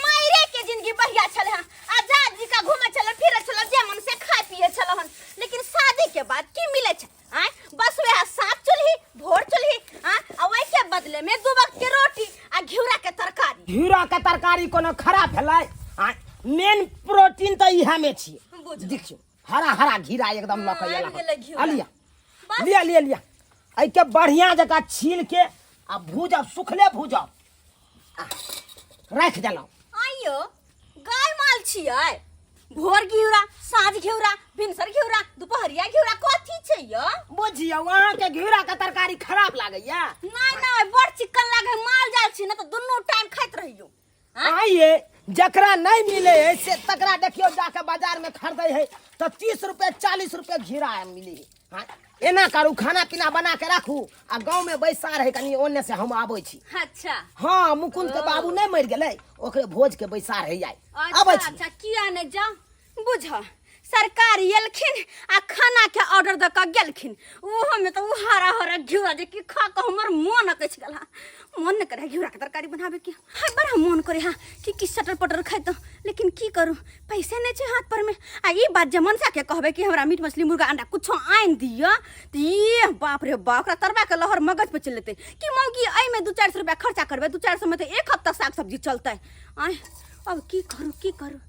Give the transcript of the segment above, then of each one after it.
मायरे के जिंदगी बढ़िया छल हन आजाद जी का घूमे छल फिरे छल जे मन से खाए पिए छल हन लेकिन शादी के बाद की मिले छ आय बस वह सात चुल्ही भोर चुल्ही आ आ वही के बदले में दू वक्त के रोटी आ घिउरा के तरकारी घिरा के तरकारी कोनो खराब भेलै आ मेन प्रोटीन तऽ इएहमे छियै बुझलहुँ। देखियौ हरा हरा घिरा एकदम लऽ के आबि एला गेलै घिउरा। आ लिया लिया लिया लिया एहिके बढ़िया जकाँ छील के आ भूजब सुखले भूजब आ राखि देलहुँ आइयो गाय माल छियै भोर घिउरा साँझ घिउरा भिनसर घिउरा दुपहरिया घिउरा कथी छै यो बुझियौ अहाँके घिउराके तरकारी खराब लागैया नहि नहि बड़ चिक्कन लागे माल जाल छी ने तऽ दुनू टाइम खाइत रहियो आइए जकरा नहीं मिले है से तकरा देखियो जाके बाजार में खरीदे है तो तीस रुपये चालीस रुपये घिरा मिले है हाँ, एना करू खाना पीना बना के राखू आ गांव में बैसा रहे कनी ओने से हम आबै छी अच्छा हां मुकुंद के बाबू नहीं मर गेलै ओकरे भोज के बैसा रहे जाय अच्छा, आबै छी अच्छा किया ने जा बुझ सरकार एलखिन आ खाना के ऑर्डर दऽ कऽ गेलखिन ओहोमे तऽ ओ हरा हरा घिउरा जे कि खा कऽ हमर मोन अकैछ गेल हा मोन नहि करे घिउरा के तरकारी बनाबे के हाय बड़ा मोन करे हा कि कि सटर पटर खाइतो लेकिन की करू पैसे नहि छै हाथ पर में आ ई बात जे मनसा के कहबे कि हमरा मीट मछली मुर्गा अंडा कुछो आनि दिअ तऽ ये बाप रे बाप ओकरा तरबा के लहर मगज पे चलि लेतै कि मौगी एहिमे दू चारि सए रुपया खर्चा करबै दू चारि सए मे तऽ एक हफ्ता साग सब्जी चलतै आँय अब की करू की करू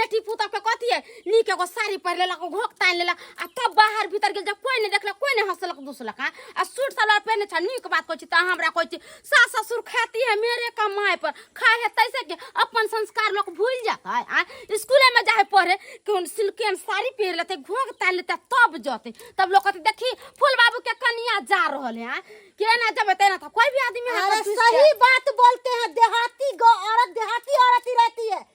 बेटी पुतह के कथी है नीक एगो साड़ी पहिर लेलक घोक तान लेलक आ तब बाहर भीतर गेल जब कोई नहीं देखलक कोई नहीं हंसलक दूसलक हाँ? आ सूट सलवार पहने छा नीक बात कहै छी तऽ हमरा कहै छी सास ससुर खाती है मेरे कमाए पर खाए है तैसे के अपन संस्कार लोग भूल जाता है आ स्कूले में जाए पढ़े केहन सिल्के में साड़ी पहिर लेते घोक तान लेते तब जते तब लोग कहते देखी फूल बाबू के कनिया जा रहल है हाँ? के ना जब तेना था कोई भी आदमी हाथ अरे पर चूस के- सही बात बोलते हैं देहाती गौ औरत देहाती औरत ही रहती है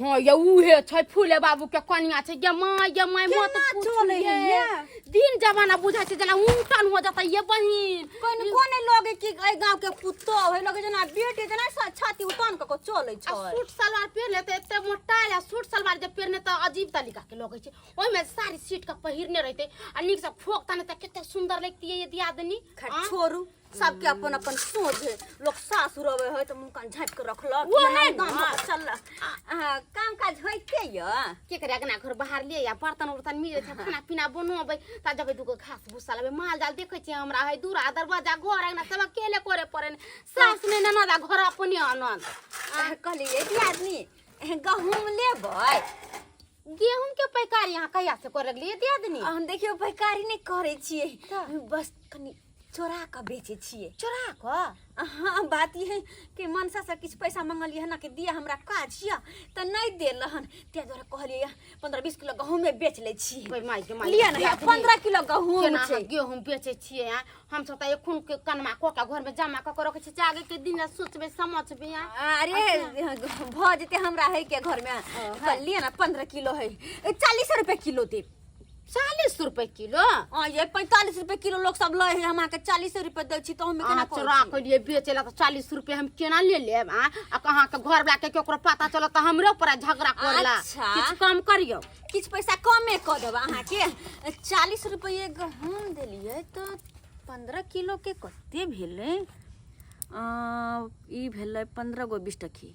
हाँ ये उहे छै फूले बाबू के कनिया छै ये माँ ये माँ मत केना पूछ चलै ये। है ये? दिन जमाना बुझा छै जेना उल्टन हो जाता ये बहिन कोन कोने लगे कि ए गांव के पुतो है लगे जना बेटे जना सा छाती उतान क के चले आ छै सूट सलवार पहिरले तऽ एते मोटा या सूट सलवार जे पहिरने तऽ अजीब तरीका के लगै छै ओहिमे साड़ी सीट के पहिरने रहते आ नीक से फोक ताने तऽ कते सुंदर लगतियै ये दियादनी खैर, हाँ? छोड़ू सबके अपन अपन सोच है लोग सासुर अबे है तो मुंह कान झाँप के रखलक वो है ना। चल काम काज होइते य के करे अगना घर बाहर ले या बर्तन उर्तन मिले छै खाना पीना बनबै ता जबै दुगो घास भूसा लेबै माल जाल देखै छियै हमरा है दूरा दरवाजा घर अगना सब अकेले करे पड़े ने सास ने ननद आ घर अपने अनंद कहलिए कि आदमी एह, गहूम लेबै गेहूं के पैकार यहाँ कहिया से करे लगलिए दे दनी हम देखियो पैकारी नहीं करे छिए का? बस कनी चोरा कऽ बेचै छियै चोरा कऽ अहाँ बात ई है कि मनसासँ किछु पैसा मङ्गलियै हन कि दिअ हमरा काज यऽ तऽ नहि देल हन ताहि दुआरे कहलियै यऽ पन्द्रह बीस किलो गहूँमे बेच लै छी कोइ माय के माय लिअ ने हैत पन्द्रह किलो गहूँम केना छै अहाँ गेहूँ बेचै छियै आँय? हमसभ तऽ एखन के कनमा कऽ के घरमे जमा कऽ के रखै छियै जागे के दिन सोचबै समझबै आँय? अरे भऽ जेतै हमरा है के घरमे तऽ लिअ ने पन्द्रह किलो है चालीस रुपए किलो देब चालीस रुपए किलो हाँ ये पैंतालीस रुपए किलो लोग सब लै है हम अहाँके चालीस रुपए दै छी तऽ हमे केना अहाँ कहै चोरा छी? के लिए बेचे ला तो चालीस रुपए हम केना ले लेब आ आ कहाँ के घर वाला के केकरो पता चलो तो हमरे ऊपर झगड़ा करला अच्छा। किछु कम करियो किछ पैसा कमे कऽ देब अहाँके चालीस रुपये गहूँम देलियै तऽ पंद्रह किलोके कते भेलै अ, ई भेलै पंद्रह गो बीस टकी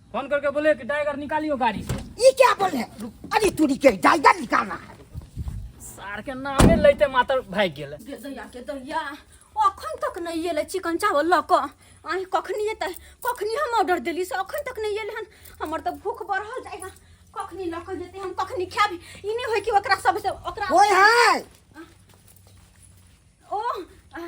फोन करके बोले कि टाइगर निकालियो गाड़ी से ये क्या बोल रहे हो? अरे तू निकल टाइगर निकालना है सार के नामे लेते माता भाग गेल गे दैया गे दैया अखन तक नहीं एलै चिकन चावल लऽ कऽ आइ कखनी एतै कखनी हम ऑर्डर देली से अखन तक नहीं एलै हन हमर तऽ भूख बढ़ल जाइगा कखनी लऽ कऽ जेतै हम कखनी खायब ई नहि होइ कि ओकरा सबसँ ओकरा ओए हाय ओ आ,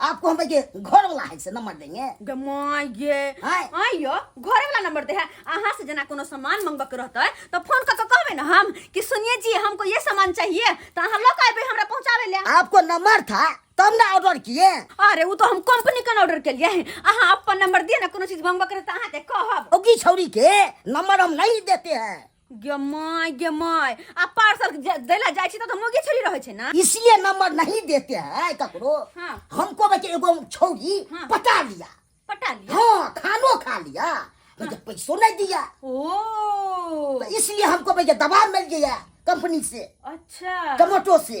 आपको हम के घर वाला है से नंबर देंगे गे माय गे हाय। हाय यो घरे वाला नंबर दे है अहाँ से जना कोनो सामान मंगवा के रहते तो फोन करके कहबे ना हम कि सुनिए जी हमको ये सामान चाहिए तो अहाँ लोग आबे हमरा पहुंचावे ले आपको नंबर था तब ना ऑर्डर किए अरे वो तो हम कंपनी का ऑर्डर के लिए है अहाँ अपन नंबर दिए ना कोनो चीज मंगवा के रहते अहाँ ते कहब ओकी छौरी के नंबर हम नहीं देते हैं गे माय गे माय आ पार्सल दै ला जाइ छी त मोगे छोड़ी रहै छै ना इसलिए नंबर नहीं देते हैं ककरो हाँ। हमको बचे एगो छोड़ी हाँ। पटा लिया पटा लिया हाँ खानो खा लिया तो हाँ। पैसों नहीं दिया ओ तो इसलिए हमको भैया दबाव मिल गया कंपनी से अच्छा टमाटो से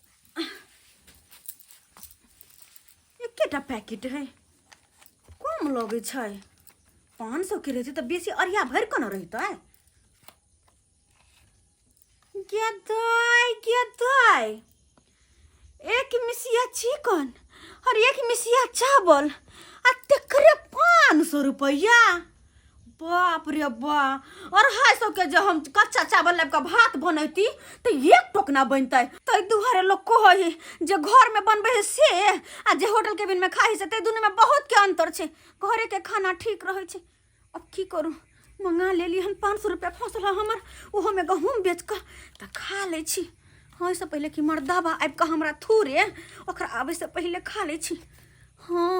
एकेटा पैकेट है कम लगे छै पाँच सौ के रहते तो बेसी अरिया भर के न रहते गेदाय गेदाय एक मिसिया चिकन और एक मिसिया चावल आ तेकरे पाँच सौ रुपया बाप रे बा अढ़ाई सौ के जे हम कच्चा चावल लाबि कऽ भात बनैती तऽ एक टोकना बनतै ताहि दुआरे लोक कहै है जे घर में बनबै है से आ जे होटल केबिन में खाइ है से ताहि दुनू में बहुत के अंतर छै घरे के खाना ठीक रहै छै अब की करू मंगा लेली हन पाँच सौ रुपया फँसल है हमर ओहो में गहूँम बेच कऽ तऽ खा लै छी हाँ से पहिले कि मर्दाबा आबि कऽ हमरा थूरे ओकरा आबै से पहिले खा लै छी हाँ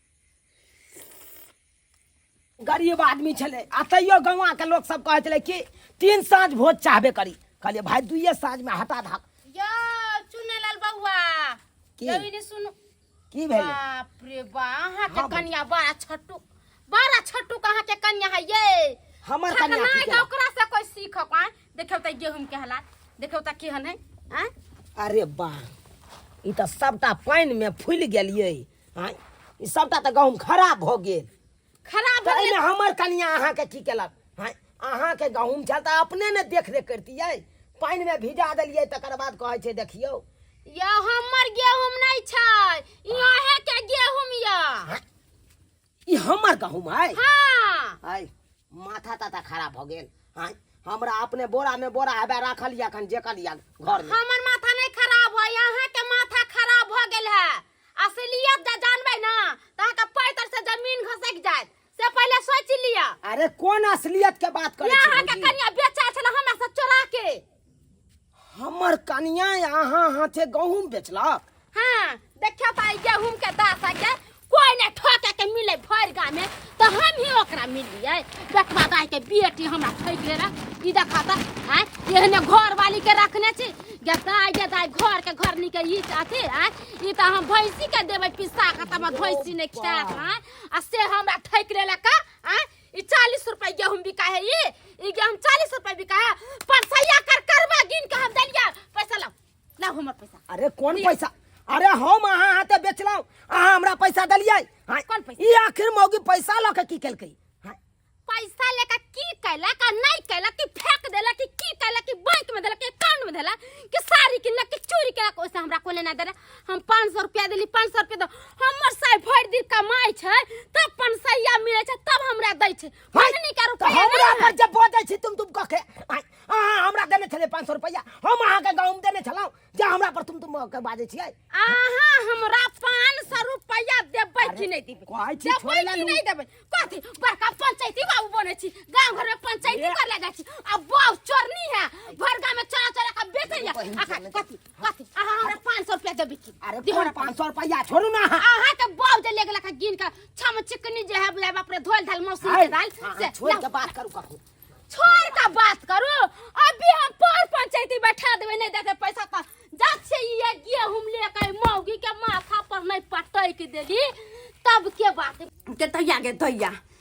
गरीब आदमी छलै आ तैयो गौवाके लोक सब कहै छलै कि तीन साँझ भोज चाहबे करी कहलियै भाय दुइये साँझमे हटा धाक यो चुनेलाल बौआ की? यो इने सुनु की भेलै बाप रे बा अहाँ के हाँ, कन्या बड़ा छोटू बड़ा छोटू कहाँ के कन्या है ये हमर कन्या खतरनाक की है, केलक? ओकरा से कोई सीख पाए देखियो त गेहूं के हालात देखियो त केहन है हैं? अरे वाह ई तऽ सभटा पानिमे फूलि गेलियै आँय, ई सबटा तऽ गहूँम खराब भऽ गेल खराब तऽ भऽ एहिमे गेल हमर कनिया अहाँके की केलक आँय, अहाँके गहूँम छल तऽ अपने ने देख रेख करितियै पानिमे भिजा देलियै तकर बाद कहै छै देखियौ यौ हमर गेहूं नहि छै ई अहे के गेहूं यऽ आँय, ई हमर गहूम है हाँ है माथा ताथा खराब हो गेल है हमरा अपने बोरा में बोरा है राखल या खन जेकल या घर में हमर माथा नहीं खराब है यहाँ के माथा खराब हो गेल है असलियत जे जानबे ना तो अहाँ के पैतर से जमीन घसक जाए से पहले सोच लिया अरे कौन असलियत के बात करे छी यहाँ के भौजी? कनिया बेचा छल हमरा से चोरा के हमर कनिया अहाँ हाथे गहूम बेचलक हाँ देखियो ताई गेहूं के दासा के कोई ने ठोके के मिले भर गाँव में तो हम ही ओकरा मिलिए बेटवा दाई के बेटी हमरा ठोक ले रहा ई देखा ता आय एहने घर वाली के रखने छी गे दाई गे दाई घर के घर निके ई अथी आय ई तो हम भैंसी के देबै पिसा के तब भैंसी ने खिया आय आ से हमरा ठोक ले का आय ई चालीस रुपए गेहूं बिका है ई ई गेहूं चालीस रुपए बिका है परसैया कर करवा गिन के हम देलिया पैसा लाओ लाओ हमर पैसा अरे कौन पैसा अरे हम अहाँ हाथे बेचलहुँ अहाँ हमरा पैसा देलियै हाँ, कौन पैसा? ई आखिर मौगी पैसा लऽ के की केलकै हाँ, पैसा लेकर की कैलक आ नहीं कैलक कि फेंक देलक कि की कैलक कि बैंक में देलक कि अकाउंट में देलक कि साड़ी किनलक कि चोरी कैलक ओइसे हमरा कोने ना देलक हम पाँच सौ रुपया दिली पाँच सौ रुपया दो हमर साई भरि दिन कमाइ छै तब पनसैया मिलै छै तब हमरा दै छै भजनी का तो रुपया हमरा पर जब बोझै छी तुम तुम कह के आय, अहाँ हमरा देने छलियै पाँच सौ रुपैआ हम अहाँके गाँवमे देने छलहुँ जे हमरा पर तुम तुम के बाजै छियै अहाँ हमरा पाँच सौ रुपया देबै कि नहि देबै कहै छी देबै छोड़े कि लालू। नहि देबै कथी बड़का पंचायती बाबू बनै छी गाँव घरमे पंचायती कर ले जाइ छी आ बाबू चोरनी है भर गाँवमे चोरा चोरा के बेचैया आ कथी कथी अहाँ हमरा पाँच सौ रुपया देबै की अरे दिहो तोरा पाँच सौ रुपया छोड़ू ना अहाँ अहाँ के बाप जे लेके लखा गिन के छम चिकनी जे है बुझाए बाप रे धोल धाल मौसी के दाल से से छोड़ के बात करू कखू छोड़ का बात करू अभी हम पर पंचायती बैठा देबै नहीं देते पैसा त जब से ये गेहूं लेके मौगी के माथा पर नहीं पटक देली तब के बात के दैया के दैया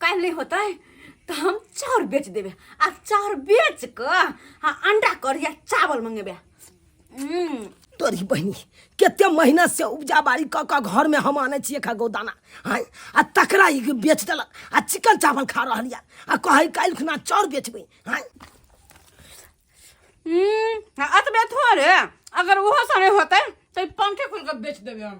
काल्हि नहि होतै तऽ हम चाउर बेच देबै आ चाउर बेच कऽ आ अंडा करी आ चावल मंगेबै हम्म, तोरी बहिनी कते महीना से उपजा बाड़ी कऽ कऽ घर में हम आने छियै खा गोदाना हैं आ तकरा ई बेच देलक आ चिकन चावल खा रहल या आ कहै काल्हि खुना चाउर बेचबै हैं हम्म, आ अतबे थोड़े अगर ओहो सा नहि होतै तऽ ई पंखे खोल कऽ बेच देबै हम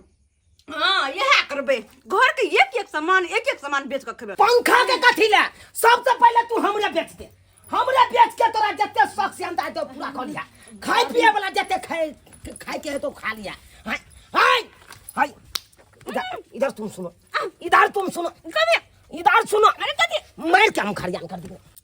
हाँ यह करबे घर के एक एक सामान एक एक सामान बेच के खेबे पंखा के कथी ले सबसे पहले तू हमरा बेच दे हमरा बेच के तोरा जते शौक से अंदाज दो पूरा कर लिया खाए पिए वाला जते खाए खाए के है तो खा लिया हाय हाय हाय इधर इधर तुम सुनो इधर तुम सुनो इधर सुनो अरे कथी मार के हम खरियान कर देंगे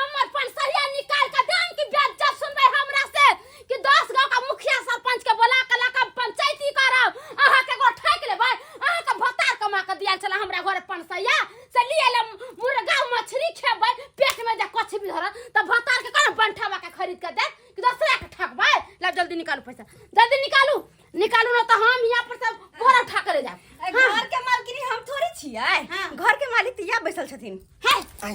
हमर पंचसरिया निकाल के देम कि बेद जब सुनबै हमरा से कि दस गांव का मुखिया सरपंच के बोला के लक हम पंचायती करब अहाँ के एगो ठैक लेबै अहाँ के भतार कमा के दिया छला हमरा घर पंचसरिया से लिए ले मुर्गा मछली खेबै पेट में जे कछ भी धरत त भतार के कोन बंठावा के खरीद के दे कि दोसरा के ठकबै ला जल्दी निकालू पैसा जल्दी निकालू निकालू ना त हम यहाँ पर सब बोरा उठा के ले जाब घर के मालकिन हम थोड़े छियै घर के मालिक तिया बैसल छथिन है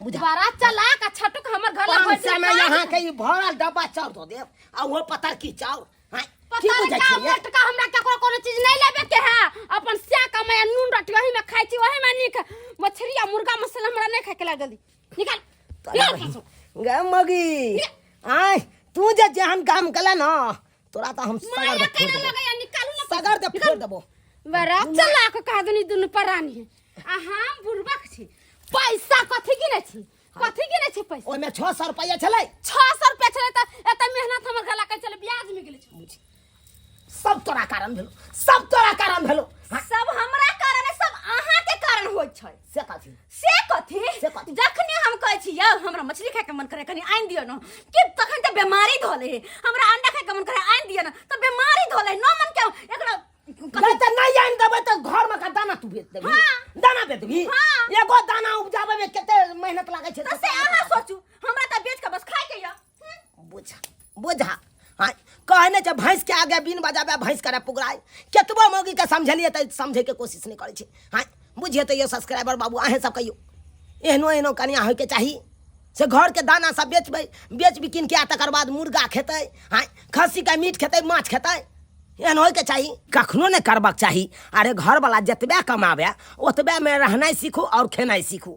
बुझा बड़ा चलाक आ छटुक हमर घर लग पाँच सौ में यहाँ के ई भरल डब्बा चाउर दो देव आ वो पता की चाउर हाँ, की पता बुझै नहीं का छियै? मोटका हमरा केकरो कोनो चीज नहीं लेबे के है अपन स्या कमाया नून रोटी वही में खाई छी वही में नीक मछली आ मुर्गा मसाला हमरा नहीं खाए के लाग जल्दी निकाल तोरा निकाल बहिन। गे मगी आय तू जे जेहन गाम गेला न तोरा त हम सगर माया दे फोड़ कइले देबो लगैया निकालू ना सगर दे फोड़ देबो बड़ा चलाक कह देनी दुनु परानी है आ हम बुरबक छी पैसा कथी गिने छी कथी गिने छी पैसा ओमे 600 रुपया छले 600 रुपया छले त एत मेहनत हमर गला के चले ब्याज में गेले छी सब तोरा कारण भेलो सब तोरा कारण भेलो सब हमरा कारण है सब अहाँ के कारण होय छै से कथी से कथी से कथी? जखने हम कहै छी यौ हमरा मछली खाए के मन करे कनी आनि दियौ न कि तखन तऽ बेमारी धोले हे हमरा अंडा खाए के मन करे आनि दियौ न तऽ बेमारी धोले हे। न मन के एकरा कथी गल त नहीं आइन देबै त घर में का दाना तू बेच देबी हाँ। दाना बेच देबी हाँ। एगो दाना उपजाबै में कते मेहनत लागै छै तऽ से अहाँ सोचू हमरा तऽ बेच के बस खाए के यऽ बुझा बुझा हाँ कहने छै भैंस के आगे बीन बजाबे भैंस करे पुगराय केतबो मौगी के समझलिए तऽ समझे के कोशिश नहीं करे छै हाँ बुझिए तैयो सब्सक्राइबर बाबू अहें सब कहियो एहनो एहनो कनिया होय के चाही से घर के दाना सब बेचबै बेच बिकिन के आ तकर बाद मुर्गा खेतै हाँ खस्सी के मीट खेतै माछ खेतै एहन होय के चाही कखनो नहि करबाक चाही अरे घरवला जतबे कमाबे ओतबेमे रहनाइ सीखू आओर खेनाइ सीखू